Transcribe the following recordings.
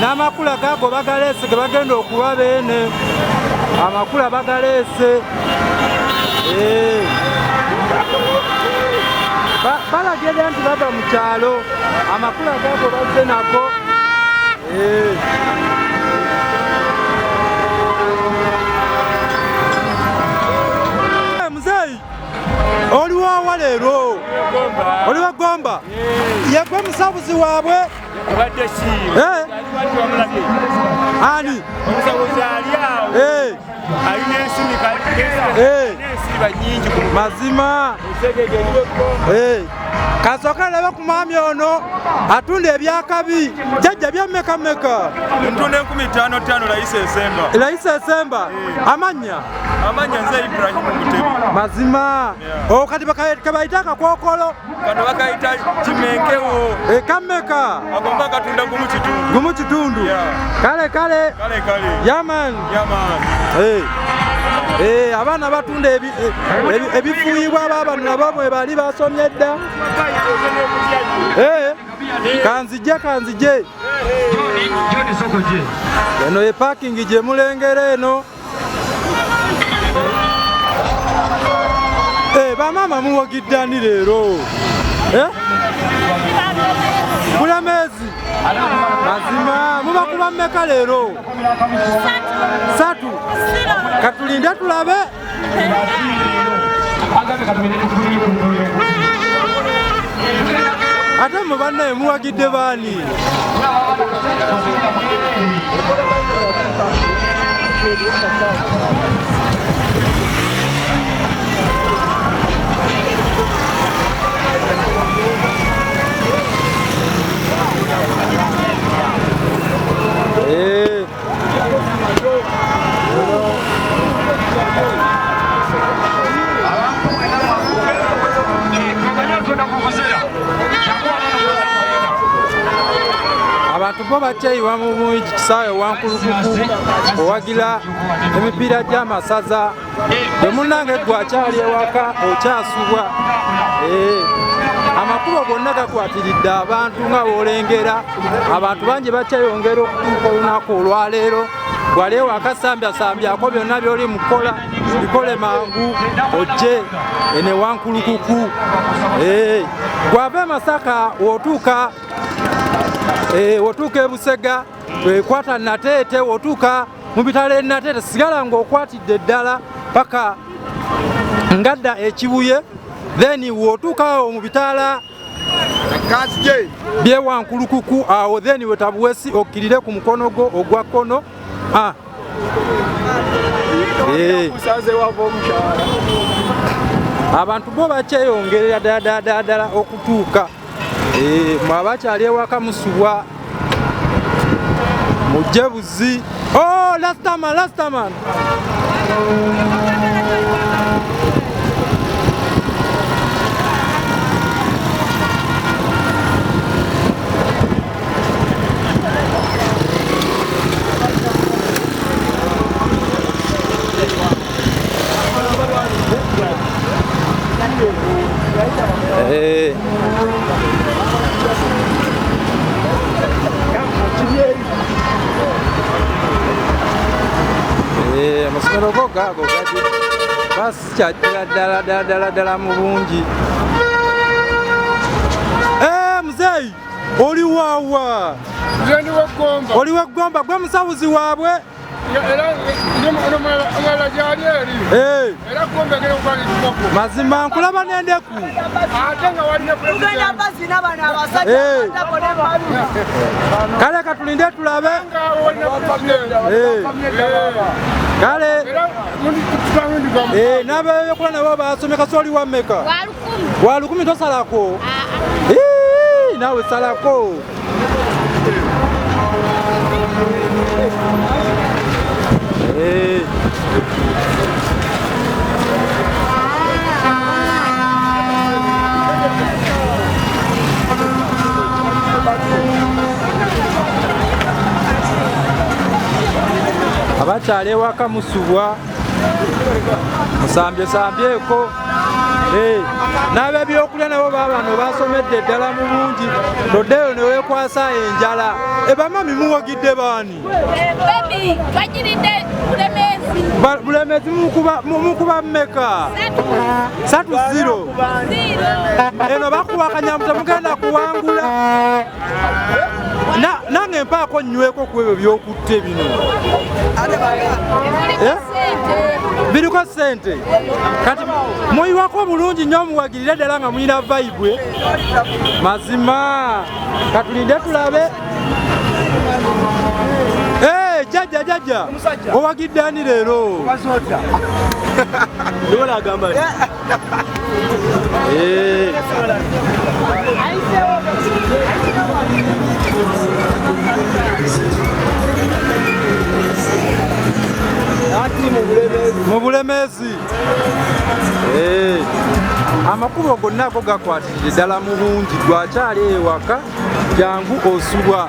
n'amakula gaago bagaleese ge bagenda okuwa beene amakula bagaleese eh. balagede nti bava mu kyalo amakula gaago bazze nago eh. oli wawa leero oli wagomba yegwe musabuzi waabwe eh? ani eh. eh. mazima kasooka laba ku mwami ono atunda ebyakabi jajja byamekameka ntunda enkumi tano tano layisi esemba layisi esemba amanyi amanya nze Ibrahim Mutebi mazima yeah. Oh, kati kabayita akakokolo kano bakayita kimenkewo ekameka eh, agomba katunda gumu kitundu gumu kitundu yeah. kale kale kale kale yaman yaman hey. Eh. Hey, eh, abaana batunda ebifuuyibwa aba bano nabo bwe bali basomye dda kanzije kanzije eno ye parking gye mulengera eno eh, bamaama muwagiddani leero eh? bulemeezi mazima mubakuba mmeka leero satu katulinde tulabe ate mu bannaye muwagidde baani Hey. Eh. abantu bo bakyeyiwa mu kisaawe wankulukuku owagira emipiira gy'amasaza bwe munange gwe akyali ewaka okyasubwa eh, amakubo gonna gakwatiridde abantu nga wolengera abantu bangi bakyeyongera okutuuka olunaku olwaleero wali ewakasambyasambyaako byonna byoli mukukola bikole mangu ojje enewankulukuku eh, gwava emasaka wotuuka eh, wotuuka ebusega wekwata nateete wotuuka mu bitalo e Nateete sigala ng'okwatidde ddala paka ngadda ekibuye then wootuukawo mu bitaala byewankulukuku awo then wetabuwesi okkirire ku mukono gwo ogwa kkono ah. eh. abantu bo bakyeyongerera ddala ddala okutuuka eh, mwaba kyali ewaka musubwa mujje buzi oh, lastaman lastaman Eh. Eh, amasomero go gaago gati basikyatira ddala ddala ddala ddala mu bungi eh, muzeeyi oli wawa oli wa ggomba gwe musawuzi waabwe mazima nkulaba nendeku kale katulinde tulabe kale nabeyokola nabo basome kasoli wameka wa lukumi tosalako nawe salako Hey. abakyala ewaka musubwa musambyesambyeeko Eh, n'abebyokulya nabo baabano basomedde eddala mu bungi noddeyo ne weekwasa enjala ebama eh, mimuwagidde baani bulemezi mukuba mmeka satu ziro eno eh, bakuba akanyamu temugenda kuwangula nange mpaako nnyweko ku ebyo byokuta biriko sente kati muyiwako bulungi nyo muwagirire ddala nga muyina vaibwe mazima katulinde tulabe jajja jajja owagidde ani leero Eh. mu bulemezi eh. amakubo gonna ago gakwatirire ddala mu bungi gwakyali ewaka jangu osubwa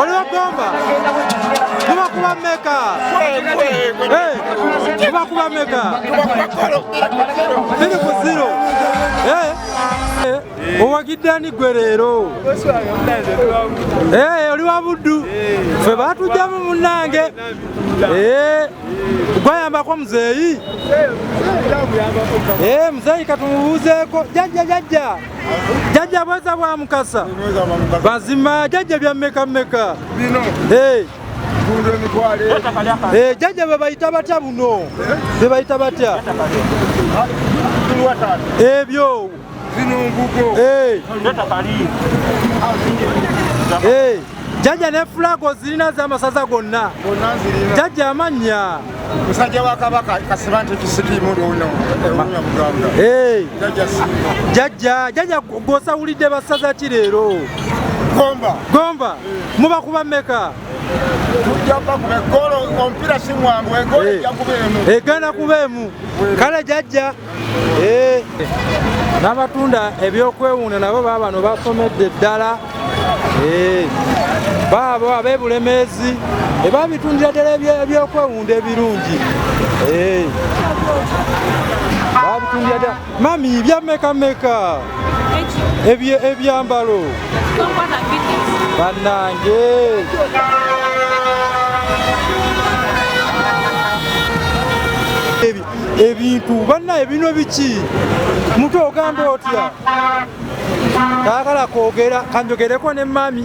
oliwo gomba tuba kuba meka tuba kuba meka biri ku ziro owagidde ani gwe leero eh, oli wa buddu eh. fe batujjamu munange eh, gwayambako muzeeyi muzeeyi katumubuuzeeko jajja jajja Jajja bweza bwa mukasa. Bazima jajja bya meka meka. Bino. Eh. Kunde ni kwale. Eh jajja baba itabata buno. Eh? Baba itabata. Eh byo. Zino ngugo. Eh. Leta kali. Eh. Jajja ne flag ozirina z'amasaza gonna. Gonna nzirina. Jajja amannya. Musajja wa Kabaka Kasibante Kisiki mulo ono ewunya eh, Buganda. Hey. Jajja Simba. Jajja, jajja gwosawulidde basaza ki leero? Gomba. Gomba. Hey. Eh. Muba kuba meka. Tujja kuba kuba golo ompira si mwangu egolo hey. Eh. ejja kuba emu. Egana kuba emu. Kale jajja. n'abatunda ebyokwewunda nabo baabano basomedde ddala baabo abebulemeezi ebabitundira ddala ebyokwewunda ebirungi babitundira ddala mami byamekameka ebyambalo bannange ebintu banna ebinwe biki mutu ogamba otya taagala kwogera kanjogereko ne mami